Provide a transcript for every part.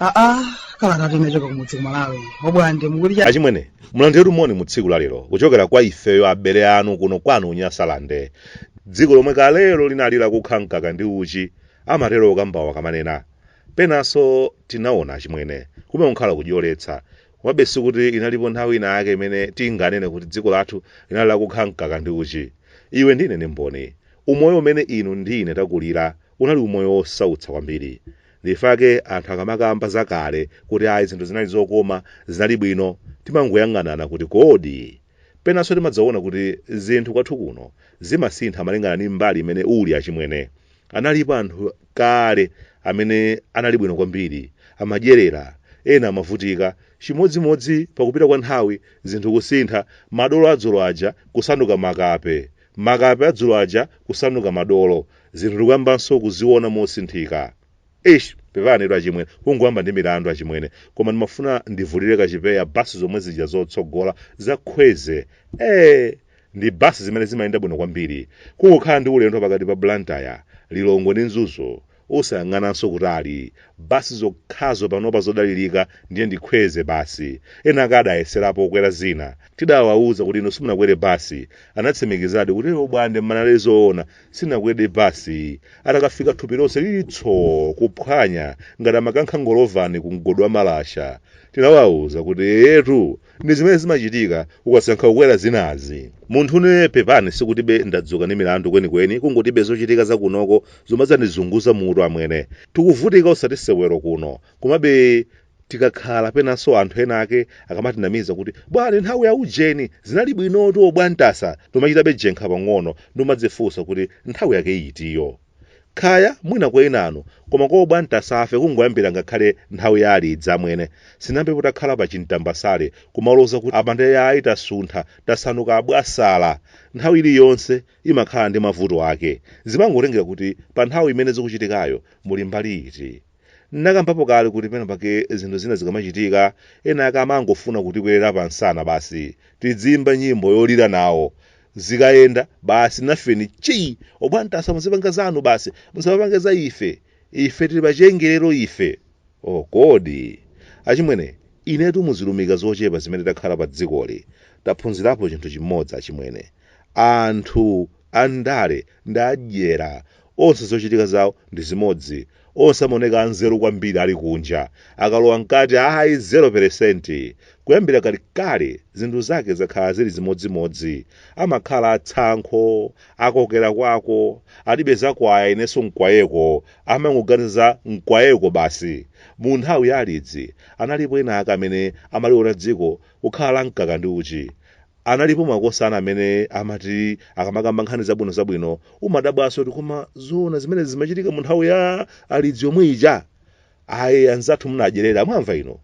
aa kalanga tinachoka kumudzi achimwene obwande achimwene mulandiretu moni mu tsiku la lero kuchokera kwa ifeyo abale anu kuno kwanu unyasalande dziko lomwe kalelo linalira kukha mkaka ndi uchi amatero okambawa kamanena Penanso timaona achimwene kumene kunkhala kudyoletsa. Komabe sikuti inalipo nthawi ina yake imene tinganene kuti dziko lathu linali lakukha mkaka ndi uchi. Inu ndi ine ndi mboni. Umoyo umene inu ndi ine takulira unali umoyo wosautsa kwambiri. Ndichifukwa chake anthu akamakamba za kale kuti ayi zinthu zinali zokoma, zinali bwino, timangoyang'anana kuti kodi? Penanso timadzaona kuti zinthu kwathu kuno zimasintha malingana ndi mbali imene uli achimwene. Analipo anthu kale amene anali bwino kwambiri, amadyerera, ena amavutika, chimodzimodzi pakupita kwa nthawi zinthu kusintha, madolo adzulo aja kusanduka makape, makape adzulo aja kusanduka madolo, zinthu ndikuyambanso kuziona mosinthika. eish pepani etu achimwene kungoyamba ndi milandu achimwene koma ndimafuna ndivulile kachipeya basi zomwe zija zotsogola zakhweze ee ndi basi zimene zimayenda bwino kwambiri kungokhala ndi ulendo pakati pa blantyre lilongwe ndi mzuzu usayang'ananso kutali basi zokhazo panopa zodalirika ndiye ndikhweze basi ena ake adayeserapo kukwera zina tidawawuza kuti inu simunakwere basi anatsimikizadi kuti obwande munali zoona sinakwere basi iyi atakafika thupi lonse lili tsoo kuphwanya ngati amakankha ngolovale ku mgodi wa malasha tinawauza kuti eyetu ndi zimene zimachitika ukasankha kukwera zinazi munthu ne pepani sikutibe ndadzuka ndi milandu kwenikweni kungotibe zochitika za kunoko zomwe zandizunguza mutu amwene tikuvutika osati sewero kuno komabe tikakhala penanso anthu ena ake akamatinamiza kuti bwani nthawi ya ujeni zinali bwinotu obwantasa timachitabe jenkha pang'ono n'kumadzifunsa kuti nthawi yake itiyo khaya mwina kwa enanu koma kwa obwantasafe kungoyambira ngakhale nthawi ya alidzi amwene sinambe potakhala pa mtambasale kumaloza kuti apa ndiye ayi tasuntha tamasuka obwantasa nthawi iliyonse imakhala ndi mavuto ake zimangotengera kuti pa nthawi imene zikuchitikayo muli mbali iti Ndinakambapo kale kuti pena pake zinthu zina zikamachitika, ena ake amangofuna kutikwerera pansana basi. Tidziimba nyimbo yolira nawo. Zikayenda, basi nafeni chii! Obwantasa muzipanga zanu basi, musamapange za ife. Ife tili pachengelero ife! Oh kodi! Achimwene, inetu m'zilumika zochepa zimene takhala padzikoli, taphunzirapo chinthu chimodzi achimwene, anthu andale ndi adyera onse zochitika zawo ndi zimodzi onse amaoneka anzeru kwambiri ali kunja akalowa mkati ayi 0% kuyambira kalikale zinthu zake zakhala zili zimodzimodzi amakhala atsankho akokera kwawo alibe zakwaya inenso mkwayeko amangoganiza za mkwayeko basi mu nthawi ya alidzi analipo ena ake amene amaliona dziko kukhala la mkaka ndi uchi Analipo makosana amene amati akamakamba nkhani zabwinozabwino umadabwanso kuti koma zoona zimenezi zimachitika mu nthawi ya alidzi yomwe ija? Ayi anzathu munadyerera, mwamva inu?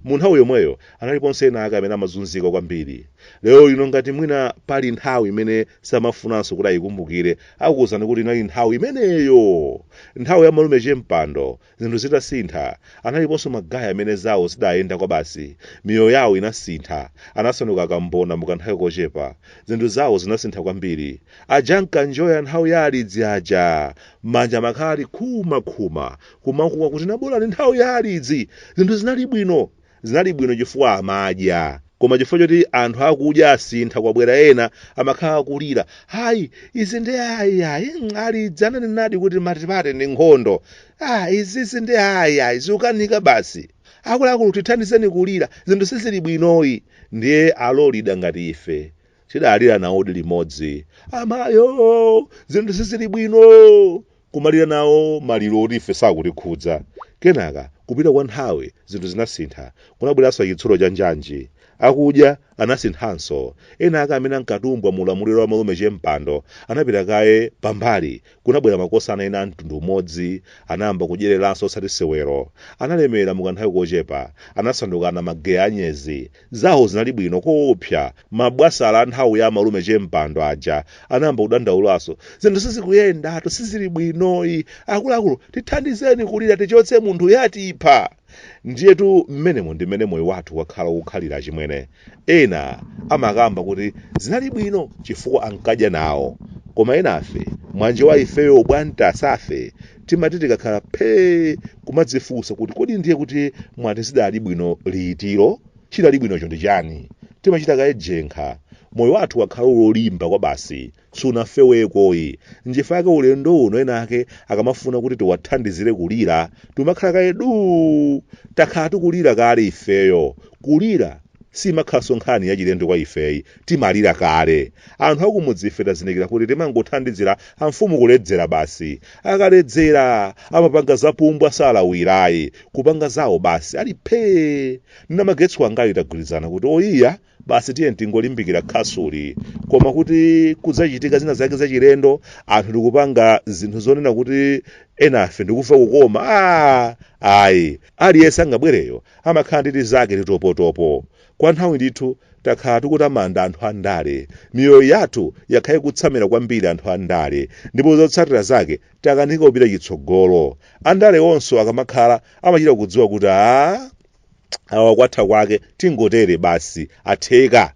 Mu nthawi yomweyo analiponso ena ake amene amazunzika kwambiri. Lero lino ngati mwina pali nthawi imene samafunanso kuti ayikumbukire, akuwuzani kuti inali nthawi imeneyo, nthawi ya malume che Mpando, Zinthu zitasintha, analiponso ma guy amene zawo zidayenda kwabasi, miyoyo yawo inasintha, anasanduka akambona mu kanthawi kochepa, zinthu zawo zinasintha kwambiri, aja ankanjoya nthawi ya alidzi aja, manja amakhala ali nkhumankhuma, kumakuwa kuti nabolani nthawi ya alidzi, zinthu zinali bwino, Zinali bwino chifukwa amadya. Koma chifukwa choti anthu akudya asintha kwabwera ena amakhala akulira. Ayi, izi ndi ayi ayi, mm, alidzi ananenadi kuti matipate ndi nkhondo. Ah, izizi ndi ayi ayi, zikukanika basi. Akuluakulu tithandizeni kulira, zinthu sizili bwinoyi. Ndiye alolira ngati ife tidalira nawodi limodzi. Amayo, zinthu sizili bwino! kumalira nawo maliro oti ife sakutikhudza kenaka kupita kwa nthawi zinthu zinasintha kunabweranso chitsulo cha njanji akudya anasinthanso ena ake amene ankatumbwa mu ulamuliro wa malume che Mpando anapita kaye pambali kunabwera makosana ena a mtundu umodzi anayamba kudyereranso osati sewero analemera mukanthawi kochepa anasanduka anamageya anyezi Zawo zinali bwino koopsa. Mabwasala a nthawi ya amalume che Mpando aja anayamba kudandaulanso. Zinthu sizikuyendatu, sizili bwinoyi. Akuluakulu tithandizeni kulira tichotse munthuyu atipha. Ndiyetu mmenemo ndi mmene moyo wathu wakhala ukukhalira achimwene. Ena amakamba kuti zinali bwino chifukwa ankadya nawo. Koma enafe, mwanji wa ifeyo obwandasafe, timati tikakhala phee kumadzifunsa kuti kodi ndiye kuti mwati zidali bwino litilo chidali bwinocho ndi chani timachita kaye jenkha moyo wathu wakhala wolimba kwa basi sunafewekoyi nchifukwa chake ulendo uno ena ake akamafuna kuti tiwathandizire kulira timakhala kaye duu takhala tikulira kale ifeyo kulira simakhalanso nkhani yachilendo kwa ifeyi timalira kale anthu akumudzi ife tazindikira kuti timangothandizira amfumu kuledzera basi akaledzera amapanga zapumbwa salawirayi kupanga zawo basi ali phee Ine ndi make Sikono wangayu tagwirizana kuti oyiya basi tiye tingolimbikira khasuli koma kuti kudzachitika zina zake zachilendo anthu tikupanga zinthu zonena kuti enafe ndikufa kukoma ah, ayi aliyense angabwereyo amakhala ndi tizake titopotopo Kwa nthawi ndithu takhala tikutamanda anthu a ndale. Miyoyo yathu yakhala ikutsamira kwambiri anthu a ndale ndipo zotsatira zake takanika kupita chitsogolo. Andalewonso akamakhala amachita kudziwa kuti aa awa kwatha kwake tingotere basi atheka.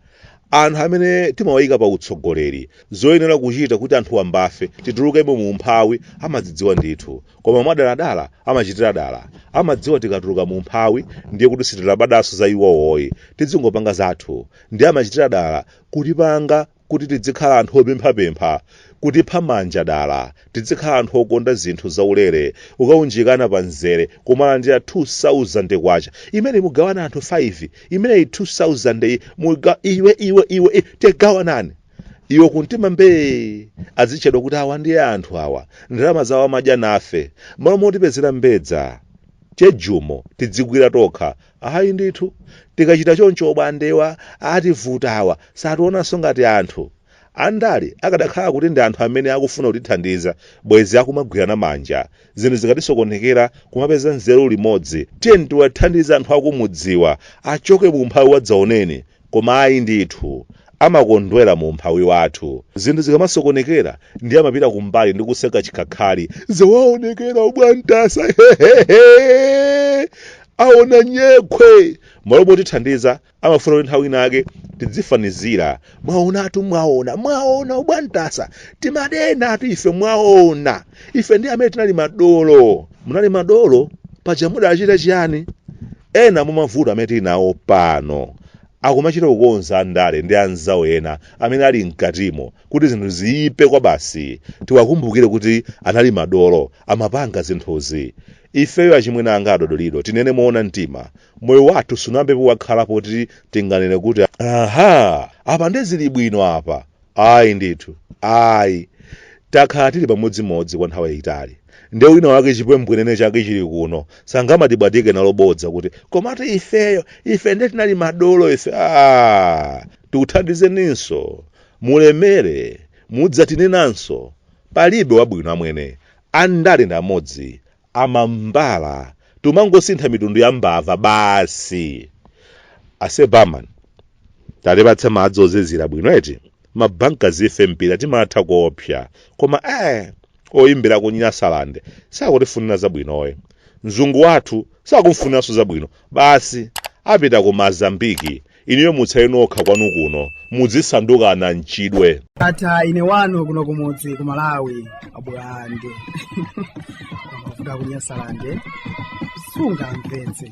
Anthu amene timawayika pa utsogoleri, zoyenera kuchita kuti anthu wambafe titulukemo mu umphawi amazidziwa ndithu. koma mwadaladala amachitira dala amadziwa tikatuluka mu umphawi ndiye kuti sitilabadanso za iwowoyi tidzingopanga zathu ndiye amachitira dala kutipanga kuti tidzikhala anthu opemphapempha kutipha manja dala tidzikhala anthu okonda zinthu zaulere ukaunjikana pa mzere kumalandira 2000 kwacha imene mugawana anthu 5 imeneyi 2000 yi muga iwe iwe iwe i- tigawanani iwo kumtima mbee azitchedwa kuti awa ndiye anthu awa ndalama zawo amadya nafe m'malo motipezera mbedza chejumo tidzigwira tokha ayi ndithu tikachita choncho mbwandewa ativuta awa sationanso ngati anthu andale akadakhala kuti ndi anthu amene akufuna kutithandiza bwezi akumagwirana manja Zinthu zikatisokonekera kumapeza nzeru limodzi. Tiyeni tiwathandize anthu akumudziwa achoke mu umphawi wadzaoneni. Koma ayi ndithu. Amakondwera mu umphawi wathu. Zinthu zikamasokonekera ndiye amapita kumbali ndi kuseka chikhakhali. Zawaonekera ubwantasa hehehe! Aona nyekhwe! M'malo motithandiza amafuna kuti nthawi inake tidzifanizira mwaonatu mwaona mwaona ubwantasa timanenatu ife mwaona ife ndi amene tinali madolo munali madolo paja mudachita chiyani ena mumavuto amene tili nawo pano akumachita kukonza andale ndi anzawo ena amene ali mkatimo kuti zinthu ziyipe kwabasi tiwakumbukire kuti anali madolo amapanga zinthuzi ifeyo achimwene anga adodolido tinene moona mtima moyo wathu sunayambepo wakhala poti tinganene kuti aha apa nde zili bwino apa ayi ndithu ayi takhala tili pamodzimodzi kwa nthawi yayitali nde wina wake chipwembwenene chake chili kuno sangamatibwatike nalo bodza kuti komatu ifeyo ife nde tinali madolo ife a tikuthandizeninso mulemere mudzatinenanso palibe wabwino amwene andale ndi amodzi amambala tumangosintha mitundu ya mbava basi ase barman tatipatse madzi ozizira bwino eti mabanka zife mpira timatha koopsa koma eh oyimbira ku nyasalande sakutifunira zabwino yo mzungu wathu sakumfuniranso zabwino basi apita ku mazambiki Inuyo mutsale nokha kwanu kuno mudzisanduka ananchidwe. Tatha ine wanu kuno kumudzi ku Malawi abwande kuda kunyasalande sunga mpenzi